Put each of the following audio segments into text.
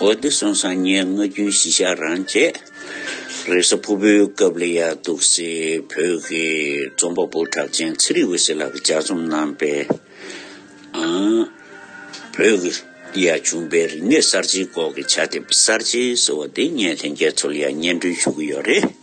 འོ་བདེ་གསུང་སང་ཉའི་སྔ་རྒྱུན་གཞི་ཞག་རང་བཅས། རེས་གཟའ་ཕུར་བུའི་སྐབས་ལས་ཡག་འདུག་སེ་བོད་ཀྱི་རྩོམ་པ་པོ་གྲགས་ཅན་ཚེ་རིང་འོད་ཟེར་ལགས་ཀྱི་ལྗགས་རྩོམ་རྣམས་པས། བོད་ཀྱི་ཡ་བྱུང་པའི་རིག་གནས་གསར་བརྗེའི་སྐོར་གྱི་བྱ་དེབ་གསར་བརྗེ་ཟེར་བ་འདི་ངས་ལྷན་རྒྱས་ཚོར་ཡ་སྙན་སྒྲོན་ཞུ་གི་ཡོད་རེད།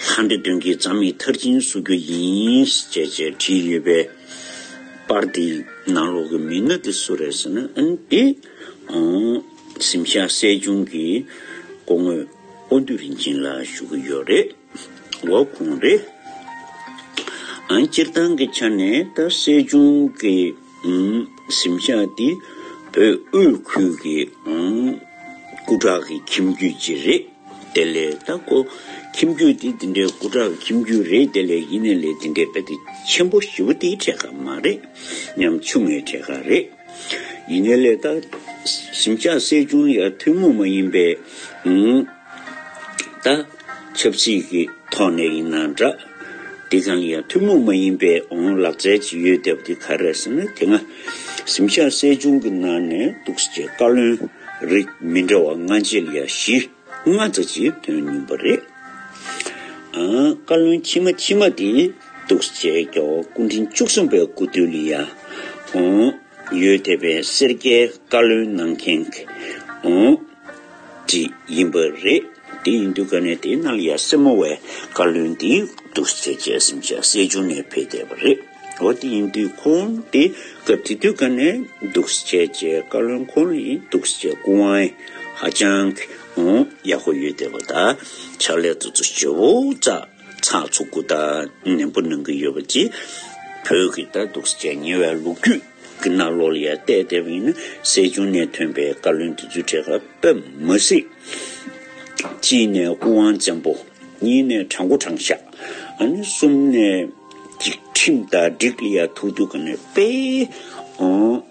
ལྷ་འདྲེ་བདུན་གྱི་རྩ་མིག་མཐར་ཕྱིན་བསུ་རྒྱུ་ཡིན། ཅེས་ཅེས་བྲིས་ཡོད་པའི་པར་དེའི་ནང་ལོགས་ཀྱི་མི་སྣ་དེ་སུ་རེད་ཟེར་ན་ཨན་ཏི། གཟིམ་ཤག་སྲས་ཆུང་གི་སྐུ་དངོས་དབོན་སྟོད་རིན་ཆེན་ལགས་ཞུ་གི་ཡོད་རེད། འོ་ཁུངས་རེད། སྤྱིར་བཏང་གི་ཆ་ནས་ད་སྲས་ཆུང་གི། གཟིམ་ཤག་འདི་བོད་དབུས་ཁུལ་གྱི་སྐུ་དྲག་གི་ཁྱིམ་རྒྱུད་ཅིག་རེད་དེ་ལས་ལྟ་སྐོ། ཁྱིམ་རྒྱུད་འདི་འདི་འདྲའི་སྐུ་དྲག་གི་ཁྱིམ་རྒྱུད་རེད་དེ་ལས་ཡིན་ནའི་ལས་འདི་འདྲའི་དཔེ་དེབ་ཆེན་པོ་བཞི་བོ་དེའི་གྲས་ཁ་མ་རེད་སྙམ། ཆུང་ངའི་གྲས་ཁ་རེད། ཡིན་ནའི་ལས་ལྟ། གཟིམ་ཤག་སྲས་ཆུང་ཡར་ཐུན་མོང་མ་ཡིན་པའི། ད། ཆབ་སྲིད་ཀྱི་ཐོག་ནས་ཡིན་ན་འདྲ། འདི་གང་ཡང་ཐུན་མོང་མ་ཡིན་པའི་འོང་ལག་རྩལ་གྱི་ཡོད་སྟབས་འདི་ག་རེད་ཟེར་ན་དེ་སྔ་གཟིམ་ཤག་གསལ་བྱུང་གི་ནང་ནས་འདུག་ཟེར་བའི་བཀའ་བློན་རིགས་མི་འདྲ་བ་ལྔ་འཇལ་ཡ་བཞི་ལྔ་རྩ་གཅིག་དོན་སྙིང་པོ་རེད། བཀའ་བློན་ཁྱི་མ་ཁྱི་མ་དེ་འདུག་ཟེར་བའི་རྒྱལ་བ་སྐུ་འཕྲེང་བཅུ་གསུམ་པའི་སྐུ་དུས་ལ་ཡང་འོང། ཡོད་དེ་བས་སེར་སྐྱའི་བཀའ་བློན་གནང་མཁན་གྱི་ཡིན་པ་རེད། དེ་ཡིན་དུས་ག་ནས་དེ་ནལ་ཡ་སེར་མོ་བས་བཀའ་བློན་དེ་འདུག་ཟེར་བྱས་སེམས་ཤ་སེ་བྱུང་ནས་ཕེབས་བསྡད་པ་རེད། འོ་དེ་ཡིན་དུས་ཁོང་དེ་ག་དེ་དུས་ག་ནས་འདུག་བྱས་བྱས་བཀའ་བློན་ཁོ་ན་ཡིན་འདུག་བྱས་སྐུ་དབང་ཧ་ཅང་ཡག་པོ་ཡོད་བསྡད་པ་ད་ཆ་ལས་དུ་ཆུ་བོ་བཙགས། ཚགས་ཚུགས་གུ་དག་ནན་པོ་གནང་གི་ཡོད་པ་གྱིས། བོད་ཀྱི་ད་གདུག་སྤྱད་ཉེ་བའི་ལོ་རྒྱུས་ཀྱི་གནའ་ལོ་ལ་ཡར་བལྟས་བལྟས་པ་ཡིན་ན་གསལ་བྱུང་གནད་ཐོན་པའི་བཀའ་བློན་དེ་ཚོའི་གྲས་ཁ་བབས་མ་སྲིད། གཅིག་ནས་སྐུ་དབང་བཙན་པོ། གཉིས་ནས་གྲྭ་མགོ་དྲང་བཞག། ཨ་ནི་གསུམ་ནས་སྒྲིག་ཁྲིམས་དང་སྒྲིག་ལ་ཡར་ཐུག་ཐུག་ག་ནས་སྤེལ།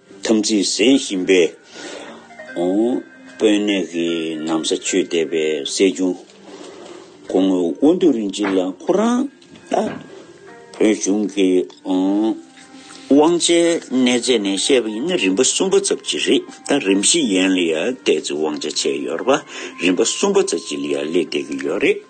དམ་ཚིག་གཟན་བཞིན་པས། དཔོན་གནས་ཀྱི་ནམ་ས་ཆོས་སྡེ་པའི་སྲས་ཆུང། གོང་མོ་དབོན་སྟོད་རིན་ཆེན་ལ་ཁོ་རང་ལྟ། བོད་གཞུང་གི་དབང་ཆའི་གནས་རྫས་ནས་བཤད་པ་ཡིན་ན་རིམ་པ་གསུམ་པ་ཙབ་ཅི་རེད་ད་རིམ་བཞི་ཡན་ལ་ཡང་གཏད་ཚིག་དབང་ཆ་ཆད་ཡོད་ར་པ་རིམ་པ་གསུམ་པ་ཙབ་ཅི་ལ་ཡང་ལེགས་གཏད་ཀྱི་ཡོད་རེད།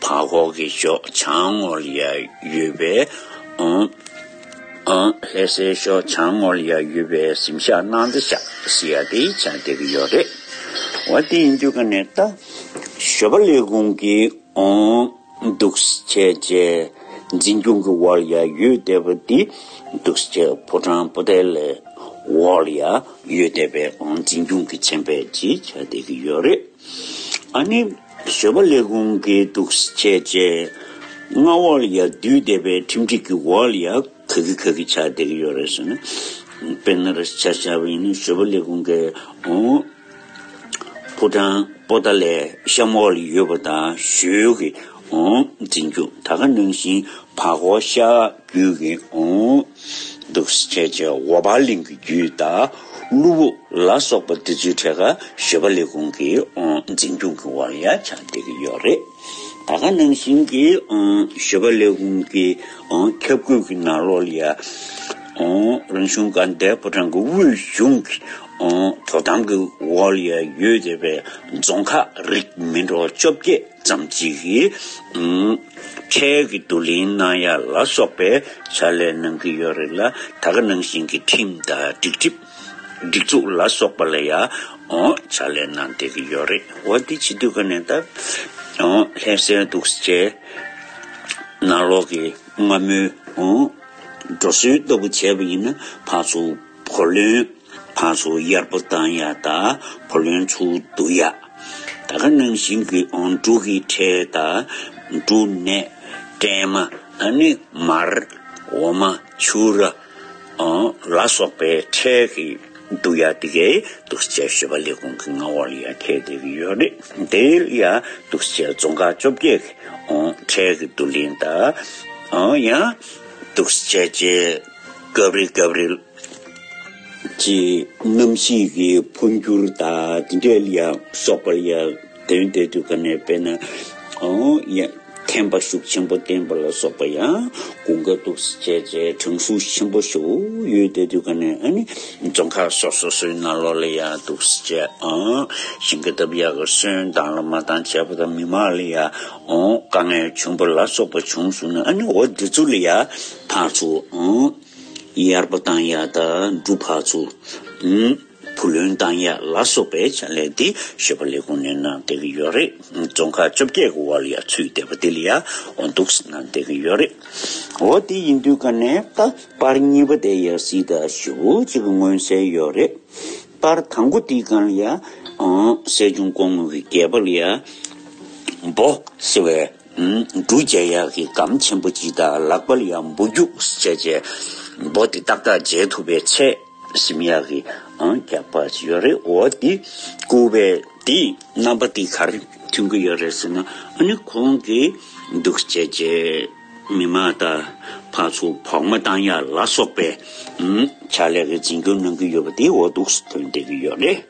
བ་ཁོག་གི་ཕྱོགས་བྱང་ངོར་ཡ་ཡོད་པས་ཨོ། ལྷས་སའི་ཕྱོགས་བྱང་ངོར་ཡ་ཡོད་པས་གཟིམ་ཤག་ནང་དུ་ཤག་ཟེར་ཡ་དེ་ཡི་ཆ་འདེགས་ཀྱི་ཡོད་རེད། འོ་དེ་ཡིན་དུས་ག་ནས་ད་ཞོ་པ་ལས་ཁུང་གི་ཨོ། འདུག་ཆས་བཅས་འཛིན་སྐྱོང་གི་བར་ཡ་ཡོད་བསྡད་པ་དེ་འདུག་ཆས་ཕོ་བྲང་སྤོ་ཐལ་ལས་བར་ཡ་ཡོད་བསྡད་པས་ཨོ་འཛིན་སྐྱོང་གི་ཆན་པས་ཀྱི་ཆ་འདེགས་ཀྱི་ཡོད་རེད། ཨ་ནི། བཟོད་པ་ལས་ཀུན་གྱི་འདུ་བྱེད་བཅས། མངའ་བར་ཡང་བསྡུས་བཟླས་པའི་ཁྲིམས་སྒྲིག་གི་བར་ཡང་ག་གི་ག་གི་ཆ་དེ་གི་ཡོད་རེད་ཟེར་ན། དཔེར་ན་རེད་ཆ་བྱ་བ་ཡིན་ན་བཟོད་པ་ལས་ཀུན་གྱི་ཕོ་བྲང་པོ་ཏཱ་ལའི་ཤམ་བྷ་ལ་ཡོད་པ་དང་བཞུགས་ཀྱི་འཛིན་རྒྱུ་ད་ག་ནང་བཞིན་བག་བག་ཤ། བརྒྱུད་ཀྱི་འདུག་ཁྱེད་ཀྱི་འོ་བར་གླིང་གི་རྒྱུད་དང་གླུ་བོ་ལ་སོགས་པ་འདི་ཚོའི་གྲས་ཀ་ཞོལ་པ་ལས་ཁུངས་ཀྱི་འཛིན་སྐྱོང་གི་བར་ཡ་ཆ་འདེགས་ཀྱི་ཡོད་རེད། ད་ག་ནང་བཞིན་གྱི་ཞོལ་པ་ལས་ཁུངས་ཀྱི་ཁྱབ་བཀོད་ཀྱི་ནང་ལོགས་ལ་ཡ། རང་གཞུང་དགའ་ལྡན་ཕོ་བྲང་གི་དབུས་གཞུང་གི་དོ་དམ་གྱི་འོག་ལ་ཡ་ཡོད་བསྡད་པའི་རྫོང་ཁག་རིགས་མི་འགྲོ་བཅོ་བརྒྱད། ཙམ་གཅིག་གིས་འཕྲལ་གྱི་བསྡུ་ལེན་གནང་ཡ་ལ་སོགས་པའི་བྱ་ལས་གནང་གི་ཡོད་རེད་ལ་ད་ག་ནང་བཞིན་གྱི་ཁྲིམས་དང་སྒྲིག་ཁྲིམས་སྒྲིག་འཛུགས་ལ་སོགས་པ་ལ་ཡང་བྱ་ལས་གནང་བསྡད་ཀྱི་ཡོད་རེད་འོ་འདི་བྱེད་དུས་ག་ནས་ད་ལྷད་སེལ་འདུག་ཅེས་ནང་ལོག་གི་སྔ་མོའི་འགྲོ་སྲོལ་ལྟ་བུ་བྱས་པ་ཡིན་ན་ཕར་ཚུར། བུ་ལོན། ཕ་སོ་གཡར་པོ་བཏང་ཡ་ད་བུ་ལོན་ཚུགས་འདུག་ཡ། ད་ག་ནང་བཞིན་གྱི་འབྲུག་གི་ཁྲལ་ད་འབྲུག་གནས། བཀྲེན་མ་ད་ནི་མར་འོ་མ་ཆུ་ར། ལ་སོགས་པའི་ཁྲལ་གི་འདུག་ཡ་དེ་གའི་དུག་སྤྱད་བཤོས་པ་ལས་གོང་གི་རྔ་བ་ལ་ཡ་ཁད་དེ་གི་ཡོད་རེད་དེ་ཡ་དུག་སྤྱད་རྫོང་ཁ་བཅོ་བརྒྱད་གི་ཁྲལ་གི་དུག་ལེན་ད། ཡ་དུག་སྤྱད་བྱེད། སྐབས་རེ་སྐབས་རེ། ཀྱི་གནམ་གཤིས་ཀྱི་འཕོ་འགྱུར་དང་འབྲེལ་ཡང་སོགས་པར་ཡང་དོན་དེ་དུས་ག་ནས་བས་ན་ཡང་ཐན་པ་ཤུགས་ཆེན་པོ་བསྟན་པ་ལ་སོགས་པ་ཡང་གོ་འགའ་འདུག་བྱས་རྗེས་འབྲང་ཤུགས་ཆེན་པོ་ཞུགས་ཡོད་དེ་དུས་ག་ནས་ནི་རྫོང་ཁག་སོགས་སོ་སོའི་ནང་ལོགས་ལ་ཡང་འདུག་བྱས་ཤིང་གི་འདབ་ཡག་གི་སོན་དང་ལ་མ་དང་བྱས་པ་དང་མི་མང་ལ་ཡང་དཀའ་ངལ་ཆུན་པོ་ལ་སོགས་པ་བྱུང་སོང་ནས་ཨ་ནི་འོ་འདི་ཚོ་ལ་ཡང། འཕགས་མཆོག། དབྱར་པོ་དང་ཡ་ད་འབྲུ་འཕགས་མཆོག། བུ་ལོན་དང་ཡ་ལ་སོགས་པའི་བྱ་ལས་དེ་ཞེས་པ་ལས་གོང་ནས་གནང་བསྡད་ཀྱི་ཡོད་རེད། རྫོང་ཁག་བཅོ་བརྒྱད་ཀྱི་བར་ལ་ཡང་ཚུད་བསྡད་པ་དེ་ལ་ཡང་འདུག་གནང་བསྡད་ཀྱི་ཡོད་རེད། འོ་དེ་ཡིན་དུས་ཀ་ནས་ད་པར་གཉིས་པ་དེ་ཡང་སྲིད་ད་བཞི་བོ་གཅིག་གི་མངོན་གསལ་ཡོད་རེད། པར་དང་པོ་དེའི་སྒང་ལ་ཡང། སྲས་ཆུང་ཀོང་མོ་གི་རྒྱལ་པོ་ལ་ཡང། འབོ། ཟེར་བའི། འབྲུ་བརྒྱ་ཡག་གི་སྒམ་ཆེན་པོ་གཅིག་དང་ལག་པ་ཡག་འབུ་རྒྱུགས་བྱེད་བྱེད་འབོ་དེ་ཏག་ཏག་འཇལ་ཐུབ་པའི་ཚད་ཞིམ་ཡག་གི་རྒྱག་པ་ཞིག་ཡོད་རེད་འོ་དེ་སྐུ་བས་དེ་རྣམ་པ་དེ་གར་ཐོན་གི་ཡོད་རེད་ཟེར་ན་ཨ་ནི་ཁོང་གི་འདུག་བྱེད་བྱེད་མི་མ་ད་ཕར་ཚུར་བོགས་མ་བཏང་ཡ་ལ་སོགས་པའི་ཕྱག་ལས་ཀྱི་འཛིན་སྐྱོང་གནང་གི་ཡོད་པ་དེ་འོ་དུགས་སུ་ཐོན་བསྡད་གི་ཡོད་རེད།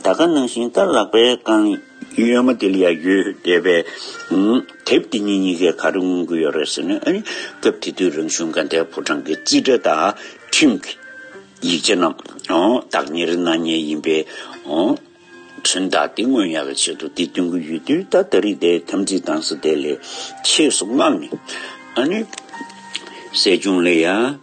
ད་ག་ནང་བཞིན་རྟ་བརླག་པའི་རྐང་གཡོན་མ་དེ་ལ་ཡང་ཡོད་བསྡད་པས། དེབ་འདི་གཉིས་གཉིས་ཀས་ག་རེ་མངོན་གྱི་ཡོད་རེད་ཟེར་ནས་ཨ་ནི་སྐབས་དེ་དུས་རང་གཞུང་དགའ་ལྡན་ཕོ་བྲང་གི་རྩིས་ཁྲ་དང་ཁྲིམས་ཀྱི་ཡིག་ཆ་རྣམས་བདག་གཉེར་གནང་ཉེན་ཡིན་པས། ཚོན་མདའ་དེ་སྔོན་ཡག་གི་ཆེད་དུ་དེ་སྟོན་གྱི་ཡོད་དུས་ད་ད་རིགས་དེ་དམ་ཚིག་དྭངས་ས་དེ་ལས་ཆེས་སུ་བསྔགས་ནས་ཨ་ནི་བསད་རྐྱང་ལས་ཡ།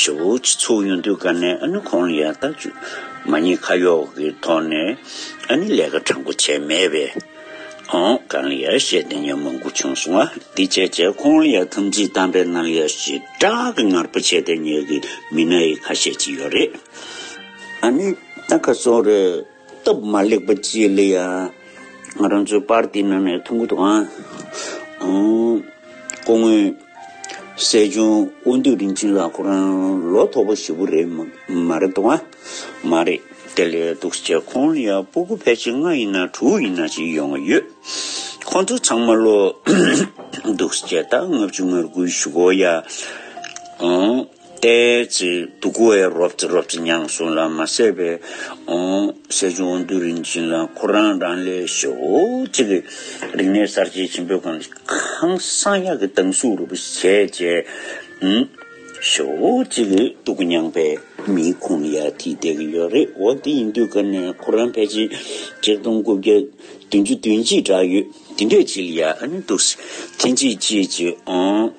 ཞོ་བོ་སྤྱི་ཚོགས་ཡུན་དུས་བཀར་ནས་ཨ་ནུ་ཁོང་ལ་ཡང་བརྟག་དཔྱོད་མ་རྙེད་ཁ་གཡོག་གི་ཐོག་ནས་ཨ་ནི་ལས་ཀ་དྲང་པོ་བྱས་མེད་པས། ཨང་ཀང་ལ་ཡར་བཤད་དེ་ཉོན་མོངས་པོ་བྱུང་སོང་ཨ་དེ་བྱས་བྱས་ཁོང་ལ་ཡང་ཐམས་ཅད་དམ་པའི་སྣང་ཡར་ཞེ་དྲག་གི་ངར་པོ་བྱས་ཏེ་ཉོས་གི་མི་སྣ་ཡི་ཁ་ཤས་ཅིག་ཡོད་རེད་ཨ་ནི་ཨ་ཁ་སོང་རེད། སྟབས་མ་ལེགས་པ་བཅས་ལ་ཡང་ང་རང་ཚོའི་པར་ཏིའི་ནང་ནས་ཐུགས་འཁུར་དང། སྐུ་ངོ་སྲས་ཆུང་དབོན་སྟོད་རིན་ཆེན་ལགས་ཁོ་རང་ལོ་ཐོག་པ་ཞིག་པོ་རེད་མ་རེད་དོ། མ་རེད་དེ་ལས་སྡུག་ཆེ་ཁོང་ལ་ཡང་སྤུ་གུ་ཕལ་ཆེར་ལྔ་ཡིན་ན་དྲུག་ཡིན་ན་ཞིག་ཡོང་གི་ཡོད། ཁོང་ཚོ་ཚང་མ་ལོ་སྡུག་ཆེ་ད་ལྔ་བཅུ་ང་དགུའི་བཞུགས་སྒོ་ཡང། ཏའེ་ཙི་ཏུ་ཀུ་ཨེ་རོབ་ཙི་རོབ་ཙི་མྱང་སུང་ལ་མ་སད་པའི་སྲས་ཆུང་དབོན་སྟོད་རིན་ཆེན་ལ་ཁོ་རང་རང་ལས་ཞོ་གཅིག་གི་རིག་གནས་གསར་བརྗེའི་བྱིན་འབེབས་ཁང་ཁང་གསང་ཡག་གི་དྭངས་གཟུགས་རུ་བུ་བྱས་རྗེས། ཞོ་གཅིག་གི་ཏུ་ཀུ་མྱང་པའི་མིའི་ཁུངས་ཡར་ཐིག་བསྡད་ཀྱི་ཡོད་རེད་འོ་དེ་ཡིན་དུས་སྐབས་ནས་ཁོ་རང་ཕལ་ཆེར་གཅིག་སྟོང་དགུ་བརྒྱ་བདུན་ཅུ་བདུན་གྱི་གྲགས་ཡོད་དེ་འདྲས་ཅིག་ལ་ཡག་ནི་འདུག་སྲིད་ཐེན་ཅིག་ཅིག་ཅིག།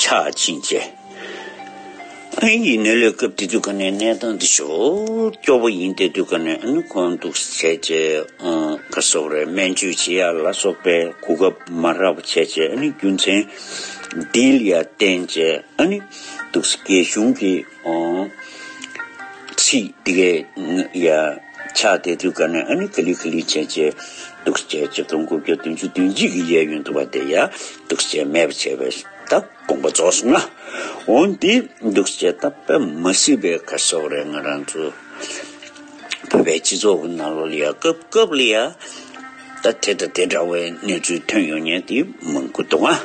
ཆག་ཅིང་བཅད། ཨིན་ཡིག་ནི་ལས་སྐབས་དེ་དུས་ཀ་ནས་གནས་སྟངས་འདི་ཞོག་སྐྱོ་པོ་ཡིན་ཏེ་དུས་ཀ་ནས་ཨ་ནུ་ཁོང་འདུག་བྱས་རྗེས་ཁ་སོབ་རེ་སྨན་བཅོས་བྱེད་ཡ་ལ་སོགས་པའི་གོ་སྐབས་མ་རག་པ་བྱས་རྗེས་ཨ་ནི་རྒྱུ་མཚན་འདིལ་ཡ་བརྟེན་རྗེས་ཨ་ནི་འདུག་སྐད་གཞུང་གིས། ཚིག་འདི་གའི་ཡ། ཆ་དེ་དུས་ཀ་ནས་ཨ་ནི་ཀ་ལི་ཁི་ལི་བྱས་བྱས། དུག་བཅས་བཅུ་སྟོང་དགུ་བརྒྱ་བདུན་ཅུ་བདུན་གཅིག་གི་གཡས་གཡོན་དུ་བ་དེ་ཡ། དུག་བཅས་མེད་པར་བྱས་པས་ད་དགོངས་པ་རྫོགས་སོང་ང། འོན་ཏེ་དུག་བཅས་རྟག་པར་མ་སྲིད་པའི་ཁ་ཕྱོགས་རེ་ང་རང་ཚོ། བོད་པའི་སྤྱི་ཚོགས་ཀྱི་ནང་ལོགས་ལ་ཡ་སྐབས་སྐབས་ལ་ཡ། ད་དེ་དང་དེ་འདྲ་བའི་གནས་ཚུལ་ཐོན་ཡོང་ཉེན་དེ་མང་པོ་འདུག་ང།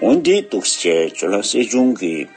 འོན་ཏེ་དུག་བཅས་བཅུ་ལ་སྲིད་སྐྱོང་གིས།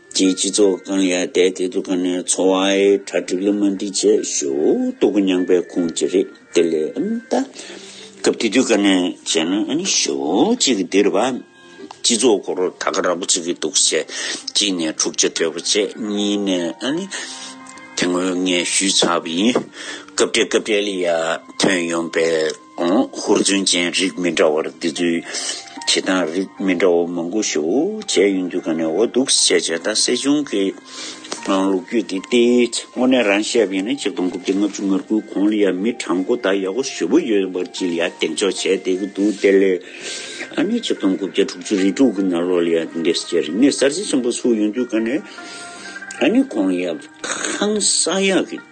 རྒྱའི་སྤྱི་ཚོགས་ཀང་ཡ་དད་དེ་དུ་ཀ་ནའི་འཚོ་བའི་གྲ་སྒྲིག་ལ་མ་འདི་བྱས་ཞོ་དུ་ཀུ་མྱང་པའི་ཁུངས་ཅི་རེད་དེ་ལས་ཨམ་ད་སྐབས་དེ་དུས་ཀ་ནའི་བྱས་ན་ཨ་ནི་ཞོ་གཅིག་གི་འདིར་བ་སྤྱི་ཚོགས་སྒོ་རོ་ད་ཀ་ར་པོ་བྱེད་ཀི་འདུག་བྱས་གཅིག་ནས་འཁྲུག་ཆ་དོད་པ་བྱས་གཉིས་ནས་ཨ་ནི་དེ་ངོས་ངས་ཞུས་ཚར་བ་ཡིན་སྐབས་འབྲེལ་སྐབས་འབྲེལ་ལ་ཡ་ཐོན་ཡོང་པའི། ཧུར་བརྩོན་ཅན་རིགས་མི་འདྲ་བར་འདི་ཚོའི་བྱེད་སྟངས་རིགས་མི་འདྲ་བ་མང་པོ་ཞུ་བྱས་ཡོང་རྒྱུ་ག་ནས་འོ་འདུག་བྱས་བྱས་ད་སྲིད་གཞུང་གི་ནང་ལུགས་རྒྱུས་འདི་སྟེ་དངོས་གནས་རང་ཤེས་ཡིན་ན་གཅིག་སྟོང་དགུ་བརྒྱ་ལྔ་བཅུ་ངར་དགུའི་གོང་ལ་ཡང་མི་གྲངས་དགུ་དག་ཡག་པོ་ཞུ་བོ་ཡོད་པར་གྱི་ལ་ཡ་འདེགས་འཇོག་བྱས་བསྡད་ཀྱི་འདུག་དེ་ལས་ཨ་ནི་གཅིག་སྟོང་དགུ་བརྒྱ་དྲུག་ཅུ་རེ་དྲུག་གི་ནང་ལོགས་ལ་ཡང་འདི་འདྲའི་རིག་གནས་གསར་བརྗེ་ཆེན་པོ་ཚུགས་ཡོང་རྒྱུ་ག་ནས་ཨ་ནི་གོང་ཡ་ཁང་ས་ཡ་གི།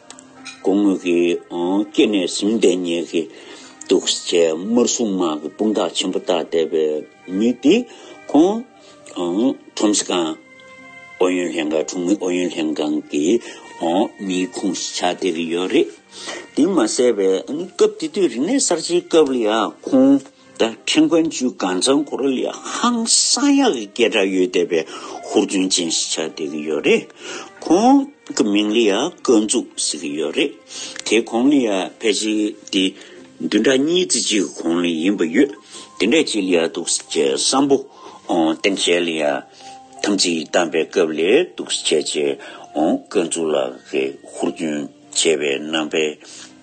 དགུང་སྔོན་གྱི་སྐྱེ་གནས་གཟིམ་སྟེ་ཉལ་གྱི་འདུག་ཅེས་དམར་སྲུང་དམག་གི་དཔུང་རྟགས་ཆེན་པོ་བཏགས་བསྡད་པའི་མི་དེ་ཁོང་ཁྲོམ་སྲི་ཁང་ཨུ་ཡོན་ལྷན་ཁང་དྲུང་མི་ཨུ་ཡོན་ལྷན་ཁང་གི་མིའི་ཁུངས་སུ་ཆགས་བསྡད་ཀྱི་ཡོད་རེད། དེ་མ་ཟད་པའི་སྐབས་དེ་དུས་རིག་གནས་གསར་བརྗེའི་སྐབས་ལ་ཡང་ཁོང། ད་ཁྲེང་ཀོན་ཆུས་གངས་ཚང་གོ་རོ་ལི་ཧང་སང་ཡག་གི་སྐད་གྲགས་ཡོད་བསྡད་པའི་ཧུར་བརྩོན་ཅན་ཞིག་ཆགས་བསྡད་ཀྱི་ཡོད་རེད། ཁོང་གི་མིང་ལི་ཡ་ཀོན་ཙུག་ཟེར་གྱི་ཡོད་རེད། དེ་གོང་ལི་ཡ་ཕལ་ཆེ་དེ་བདུན་ཕྲག་གཉིས་བརྩི་གཅིག་གི་གོང་ལི་ཡིན་པ་ཡོད། དེ་འདྲས་བྱེད་ལི་ཡ་འདུག་ཟེར་བྱས་བསམ་པོ་བསྟན་བྱས་ལི་ཡ་དམ་ཚིག་བསྡམས་པའི་སྐབས་ལས་འདུག་ཟེར་བྱས་ཀོན་ཙུག་ལགས་ཀྱི་ཧུར་བརྩོན་བྱས་པའི་ནང་པའི་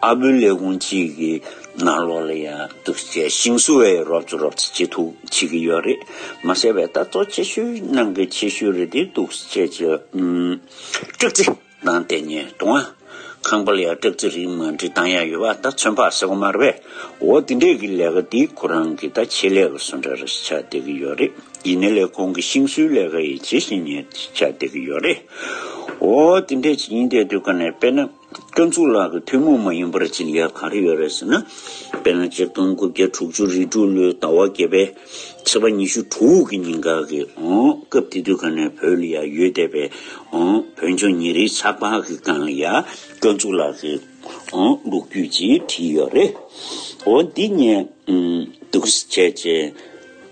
ཨ་བུ་ལས་ཁུངས་གཅིག་གི་ནང་ལོགས་ལ་ཡང་གདུག་རྩའི་ཤིང་བཟོ་བའི་རོབ་ཙོ་རོབ་ཙོ་ཅི་ཐུག་བྱེད་ཀྱི་ཡོད་རེད་མ་ཟེར་བའི་ལྟ་རྟོག་ཆེ་ཤོས་ནང་གི་ཆེ་ཤོས་རེད་དེ་གདུག་རྩའི་སྐྲག་རྩི་དང་ལྟེ་སྙེ་དུང་ཨ་ཁང་པ་ལ་ཡང་སྐྲག་རྩི་རིགས་མ་འབྲི་སྟངས་ཡང་ཡོད་པ་ད་ཚོད་འཕགས་ཟེར་བ་མ་རེད་པས་འོ་དེ་འདྲས་ཀྱི་ལས་ཀ་དེ་ཁོ་རང་གི་ད་ཆེད་ལས་ཀ་བཟོ་འདྲ་རེ་ཆགས་བསྡད་ཀྱི་ཡོད་རེད་ཡིན་ནའི་ལས་ཁུངས་ཀྱི་ཤིང་བཟོའི་ལས་ཀ་ཡི་ཇི་བཞིན་ཉེར་ཆགས་བསྡད་ཀྱི་ཡོད་རེད་འོ་དེ་འདྲས་བྱེད་ཀྱིན་བསྡད་དུས་ཀ་ནས་དཔེར་ན། སྐྱོན་གཙུག་ལག་གི་ཐུན་མོང་མ་ཡིན་པར་བྱིན་གྱིས་གང་རེ་ཡོད་རེད་ཟེར་ན། དཔེར་ན་གཅིག་སྟོང་དགུ་བརྒྱ་དྲུག་ཅུ་རེ་དྲུག་ལོའི་ཟླ་བ་བརྒྱད་པའི་ཚེས་པ་ཉི་ཤུ་དྲུག་གི་ཉིན་འགའ་གི་སྐབས་དེ་དུས་ག་ནས་བོད་ལ་ཡ་ཡོད་བསྡད་པའི་བོད་ལྗོངས་ཉིན་རེའི་ཚགས་པར་གི་སྒང་ཡ་སྐྱོན་གཙུག་ལག་གི་ལུགས་རྒྱུད་ཅེས་བྲིས་ཡོད་རེད། འོ་འདི་ངས་སྡུག་བྱས་རྗེས་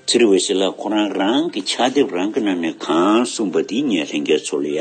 ཚེ་རི་འོད་ཟེར་ལགས་ཁོ་རང་རང་གི་ཕྱག་དེབ་རང་གི་ནང་ནས་གང་གསུངས་པ་དེ་ངས་ལྷན་རྒྱས་ཚོ་ལ་ཡ